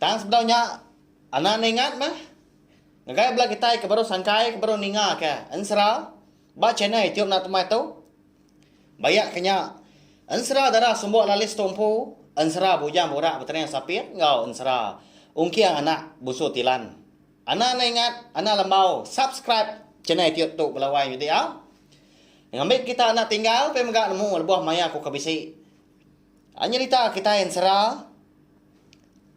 Tang sebedau nya, Anna ningat meh, ngagai bala kitai ke baru sangkai ke baru ningaka ensera ba channel itiu enda temai tu. Bayak ke nya, ensera dara sumbok lalis tu empu ensera bujang burak betening sapit enggau ensera ungking anak busu tilan. Anna ningat Anna lembau subscribe channel itiu tu bala wai nyudi a. Ngambika kita enda tinggal pia mega nemu lebuh maya ku ke bisi. Nyerita kitai ensera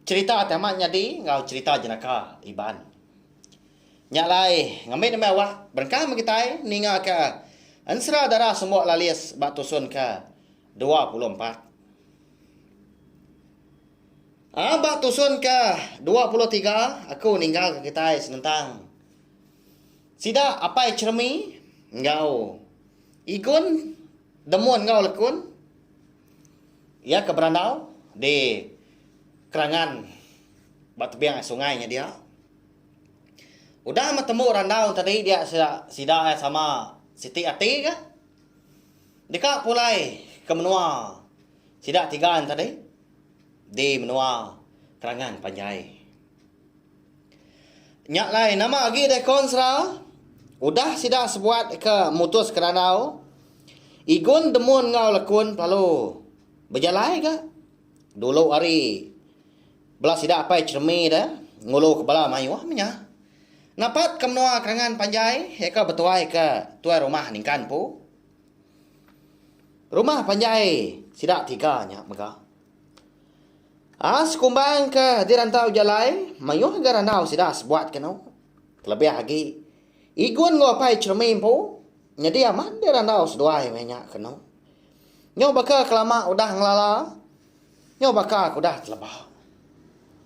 cherita ti amat nyadi enggau cherita jenaka Iban. Nya alai ngambi nembiak awak berengkah meh kitai ningaka ensera dara Sembok Lalis ba tusun ke dua puluh empat. Aa ba tusun ke dua puluh tiga aku ninggalka kitai senentang sida Apai Cheremi enggau Igun Demun enggau Lekun Iya ke berandau di kerangan ba tebing sungai nya dia. Udah meh tembu randau tadi dia sida iya sama siti ati ka. Deka pulai ke menua sida tiga nya tadi di menua Kerangan Panjai. Nya alai nama agi deh kon sera udah sida sebuat ke mutus ke randau Igun Demun enggau Lekun pelalu bejalai ga dulu ari bela sida apai Cheremi deh ngulu ke bala mayuh menya napat ke menua Kerangan Panjai iya ka betuai ke tuai rumah ningkan empu rumah panjai sida tiga nya mega. As kumbang ke dirantau jalai mayuh ga randau sida sebuat kenu. Kelebih agi, Igun enggau apai Chermi empu nyadi amat dirandau seduai meh nya kenu. Nyu baka kelama udah ngelala, nyu baka ke udah teleba.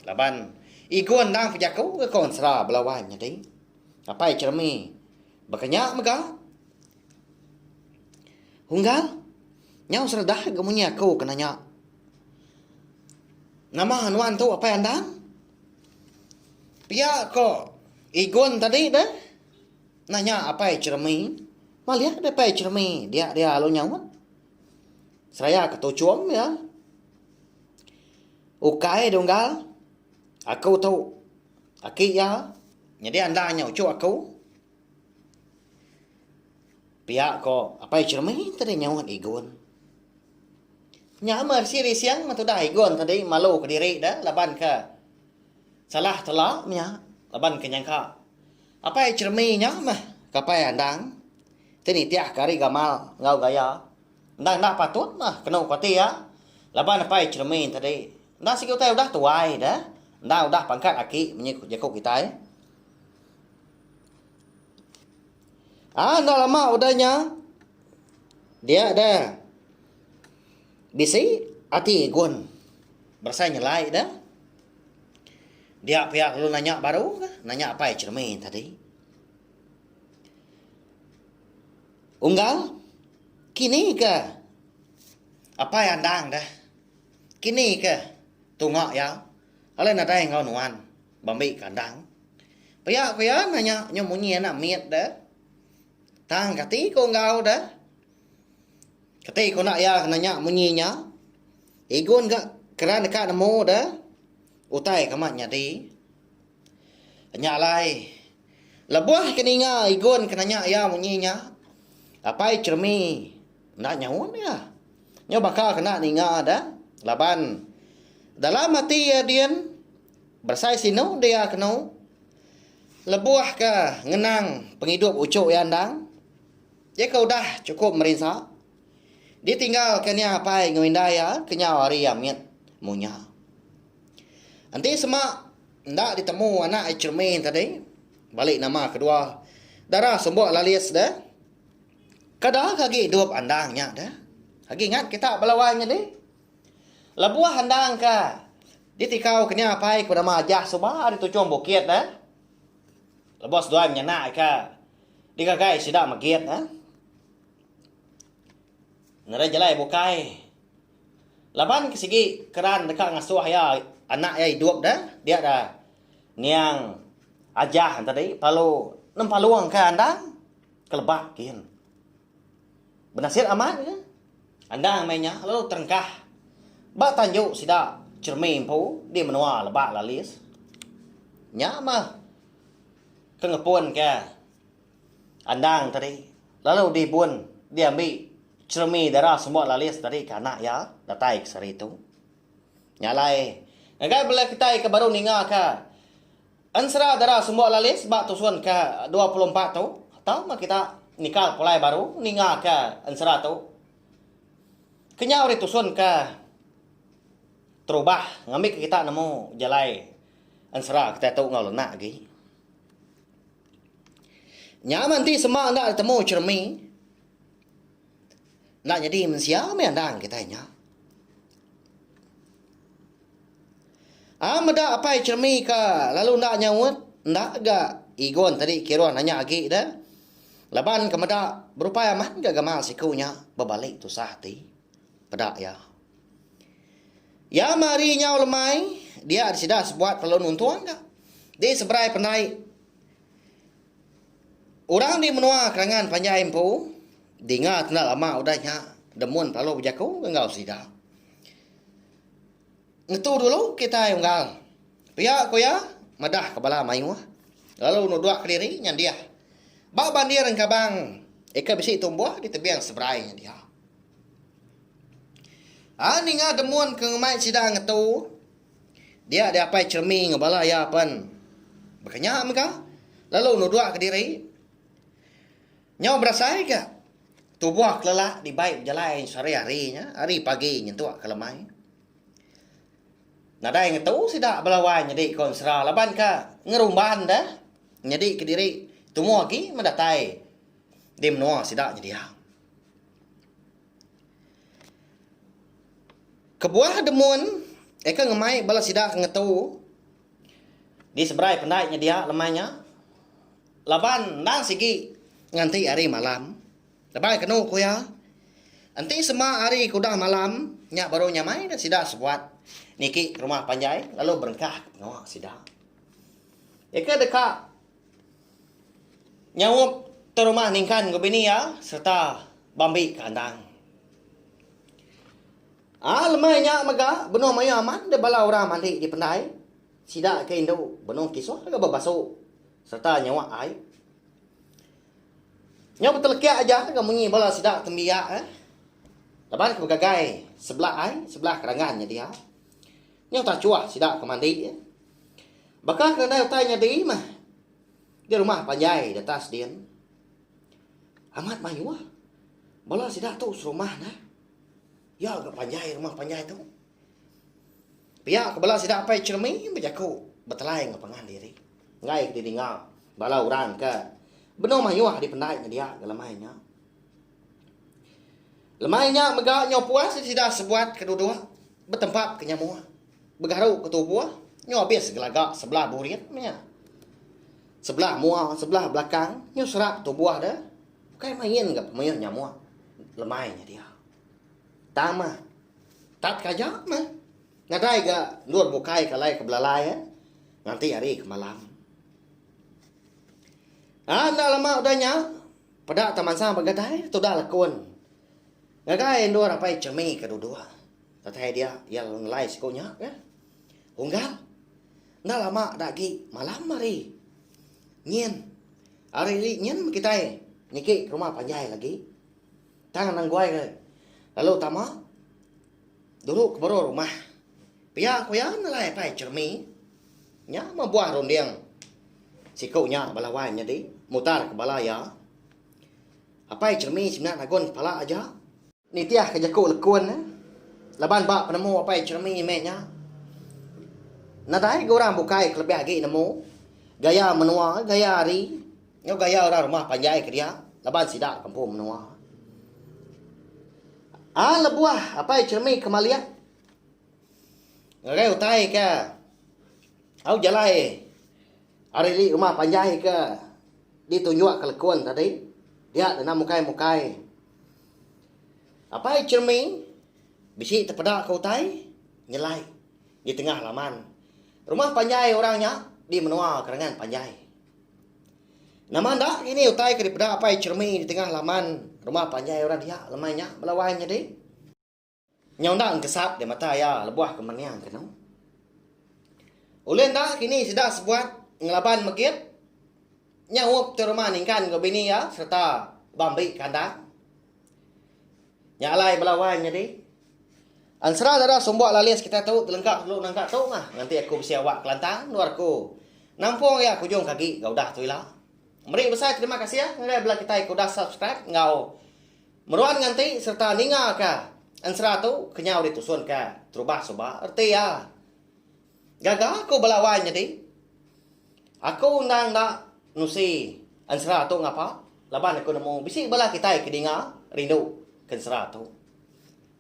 Laban Igun endang pejaku ke kaun sera bela wan nyadi, apai Chermi baka nya mega. Unggal, nyau sereda ga munyi aku kena nya. Nama nuan tu apai andan? Pia ko Igun tadi deh. Nanya apai Jeremy. Malih deh apai Jeremy dia dia lalu nyaut. Seraya ke tuchum iya. Ukai dunggal aku tu aki iya. Nyadi anda nya uchu aku. Pia ko Apai Jermin tadi nyaut Igun. Nya meh resi rising meh tudah Igun tadi malu kediri da laban ke salah tela nya laban ke nyangka Apai Jermin nya meh kapai andang ti nitih ke ari gamal enggau gaya endang enda patut meh kenu kuati iya laban Apai Jermin tadi enda sigi utai udah tuai da enda udah pangkat aki menyi jaku kitai. Ah enda lama udah nya. Dia da. Bisi ati gun. Berasai nyelai da. Dia pia lalu nanya baru ka. Nanya apai cermin tadi. Unggal. Kini ke. Apai andang da. Kini ke. Tunga ya. Alai nadai enggau nuan. Bambi kandang. Pia ku iya nanya nyu munyi anak mit de. Tang kati ku enggau de? Kati ku enda iya ke nanya munyi nya? Igun ga keran deka nemu de. Utai ke amat nyadi. Nya alai, lebuh ke ninga Igun ke nanya iya munyi nya, Apai Cheremi enda nyaut iya. Nyu baka ke enda ninga de laban dalam ati iya din. Besai sinu dia kenu lebuh ke ngenang pengidup uchu iya endang. Iya ke udah chukup merinsa ditinggal ke nia apai enggau indai iya kenyau hari iya mit munya. Enti sema enda ditemu anak iya Chermi tadi bali nama kedua Dara Sumbok Lalis deh. Kada ke agi idup endang nya deh. Agi ingat kita bala wai nyadi. Lebuh endang ke ditikau ke nya apai ku nama Ajah suba ari Tuchong Bukit neh. Lebuh seduai menyanak ke digagai sida megit neh. Nerei jalai bukai laban ke sigi keran deka ngasuh iya anak iya idup neh dia da niang Ajah tadi lalu nempalung ke endang ke lebak gin. Benasir amat ke? Endang meh nya lalu terengkah ba tanju sida Chermie empu di menua Lebak Lalis. Nya meh ke ngepunka endang tadi lalu dibun diambi Chermie Dara Semua Lalis tadi ke anak iya datai ke sehari tu. Nya alai ngagai bala kitai ke baru ningaka Ensera dara sembuh lalis ba tusun ke dua puluh empat tu tau meh kita nikal pulai baru ninga ke ensera tu. Kenyau ri tusun ke terubah ngambi ke kita nemu jalai ensera kita tu enggau lenak agi. Nya meh enti sema enda ditemu cermin Enda nyadi mensia meh anang kitai nya. A meda apai Chermi ka lalu enda nyaut, enda ga Igon tadi Kiron nanya agi da. Laban ke meda berupai amat ga gamal siku nya bebali tusah ati. Peda iya. Iya meh ari nyau lemai dia sida sebuat lalu nuntung ga. Di seberai pandai. Orang di menua Kerangan panjai empu dinga enda lama udah nya demun parlu bejaku enggau sida. Ngetu dulu kitai unggal pia ku iya madahka bala mayuh lalu nudok kediri nyandih ba bandir engkabang ika bisi tumbuh di tebing seberai nya diau. A ninga demun ke ngemai sida ngetu. Dia diapai Chermi enggau bala iya pen baka nya mega lalu nudukka diri nyau berasai ga tubuh kelelak dibai bejalai sehari-hari nya ari pagi nyentuk ke lemai. Nadai ngetu sida bala wai nyadi ke ensera laban ka ngerumban deh nyadi ke diri tumu agi meh datai di menua sida nyedia. Kebuah demun eka ngemai bala sida ngetu di seberai pendai nyedia lemai nya laban enda sigi nganti ari malam laban kenu ku iya enti sema ari ke udah malam nya baru nyamai ne sida sebuat niki rumah panjai lalu berengkah ke menua sida. Eka deka. Nyaup ke rumah ningkan ke bini iya sereta bambi ke andang. A lemai nya mega benung mayuh amat dek bala orang mandi dipendai sida ke indu benung kisuh ke bebasu sereta nyawa ai. Nyau betelekak aja ke munyi bala sida tembiak eh laban ke begagai sebelah ai sebelah kerangan nya dia. Nyau tachuh sida ke mandi. Baka ke nadai utai nyadi meh di rumah panjai di atas din. Amat mayuh bala sida tu serumah neh. Iya ga panjai rumah panjai tu. Pia ke bala sida apai Chermi bejaku betelai enggau pangan diri. Enggai ke didinga bala orang ke benung mayuh dipendai nyedia ga lemai nya. Lemai nya mega nyau puas sida sebuat ke duduk betempap ke nyamuk. Begaru ke tubuh nyu abis gelaga sebelah burit meh nya. Sebelah mua sebelah belakang nyu serak tubuh de ukai main ga pemuyuh nyamuk lemai nya dia. Tang mah tatka aja meh nadai ga endur bukai ke alai ke belalai eh nganti hari ke malam. Aa enda lama udah nya peda tamansang begadai tuda lekun ngagai endur apai Chemi ke duduk. Utai dia, iya lalu ngelai siku nya ke Unggal. Enda lama da agi malam hari nyin. Hari ri nyin kitai niki ke rumah panjai lagi. Tang anang guai ke lalu tama dulu ke boro rumah. Pia ku iya ngelai pai cermi nya meh buah runding siku nya bala wai nyadi mutar ke bala iya. Apai cermi semina nagun kepala aja. Nitihka jaku lekun ne laban ba penemu apai Jeremy meh nya. Nadai ga orang bukai ke lebih agi nemu gaya menua, gaya hari enggau gaya orang rumah panjai ke dia laban sida ke empu menua. Ai lebuh apai Jeremy ke malik ngagai utai ke au jalai ari indi rumah panjai ke ditunjukka lekun tadi dia denda mukai-mukai. Apai Chermaine bisi tepeda ke utai nyelai di tengah laman rumah panjai orang nya di menua Kerengan Panjai. Nama enda ngini utai ke dipeda Apai Chermaine di tengah laman rumah panjai orang dia lemai nya bala wai menyadi? Nyau enda engkesat di mata iya lebuh ke mening kenu. Ulih enda kini sida sebuat ngelaban megit nyaup ti rumah ningkan enggau bini iya sereta ba meri kandang. Nya alai bala wan nyadi. Ensera dara sumbok lalis kitai tu telengka telu nangka tu mah nganti aku bisi awak kelantang endur aku nampung iya ke ujung ke agi ga udah tu ila. Meri besai terima kasih ngagai bala kitai ke udah subscribe enggau Meruan nganti sereta ningaka ensera tu kenyau ditusunka terubah suba reti iya. Gaga aku bala wai nyadi, aku endang enda nusi ensera tu ngapa laban aku nemu bisi bala kitai ke dinga rinduka ensera tu.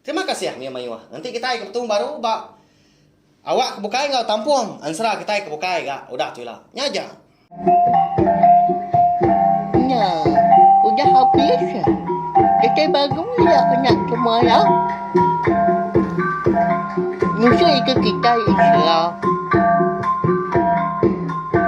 Terima kasih mih mayuh ngenti kitai ke betu baru ba awak ke bukai enggau tampung ansra kitai ke bukai ga udah tu ila. Nya aja. Nya udah habis kitai baru ila kena semaya ngusui ke kitai islam.